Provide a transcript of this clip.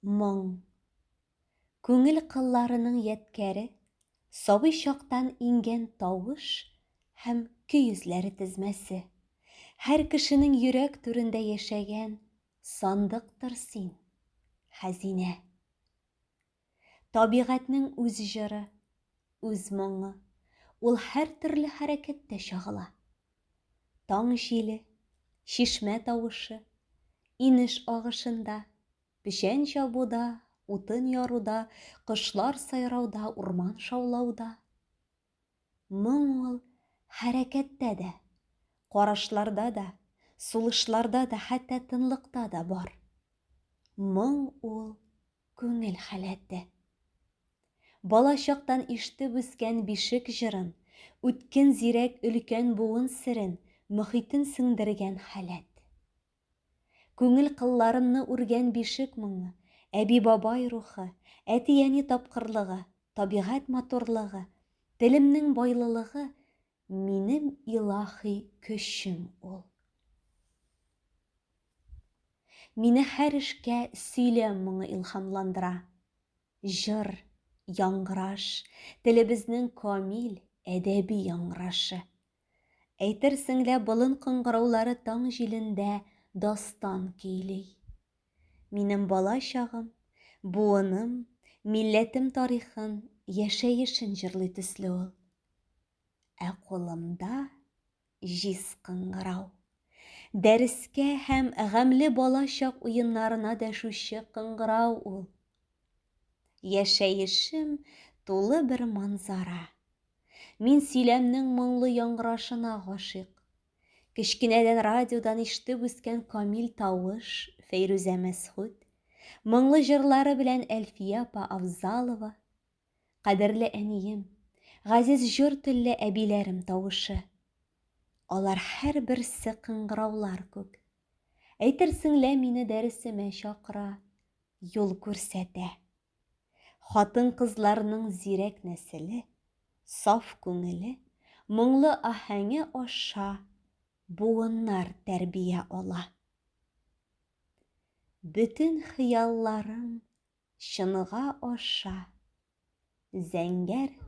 Моң. Күңел кылларының ядкәре, сабый чактан иңгән тавыш һәм көй эзләре тезмәсе. Һәр кешенең йөрәк түрендә яшәгән сандыктыр син, хәзинә. Табигатьнең үз җыры, үз моңы, ул һәртөрле хәрәкәттә чагыла. Таң җиле, чишмә тавышы, инеш агышында, печән чабуда, утын яруда, кошлар сайрауда, урман шаулауда. Моң ул хәрәкәттә дә, карашларда да, сулышларда да, хәтта тынлыкта да бар. Моң ул күңел халәте. Бала чактан ишетеп үскән бишек җырын, үткен зирәк өлкән буын серен, мохитен сеңдергән халәт. Күңел кылларынны үргән бишек моңы, әби-бабай рухы, әти-әни тапкырлыгы, табигать матурлыгы, телемнең байлылыгы, минем илаһи көчем ул. Мине һәр эшкә сөйләм моңы илһамландыра. Җыр, яңгыраш, телебезнең камил, әдәби яңгырашы. Әйтерсең лә болын кыңгыраулары таң җилендә дастан көйли. Минем бала чагым, буыным, милләтем тарихын, яшәешен җырлый төсле ул. Ә кулымда җиз кыңгырау. Дәрескә һәм гамьле бала чак уеннарына дәшүче кыңгырау ул. Яшәешем тулы бер манзара, Мин сөйләмнең моңлы яңгырашына гашыйк. Кечкенәдән радиодан ишетеп үскән камил тавыш Фәйрүзә Мәсхүт, моңлы җырлары белән Әлфия апа Авзалова, кадерле әнием, газиз җор телле әбиләрем тавышы. Алар һәрберсе кыңгыраулар күк. Әйтерсең лә мине дәресемә чакыра, юл күрсәтә. Хатын-кызларның зирәк нәселе, саф күңеле, моңлы аһәңе аша буыннар тәрбия ала. Бөтен хыялларың чынга аша, зәңгәр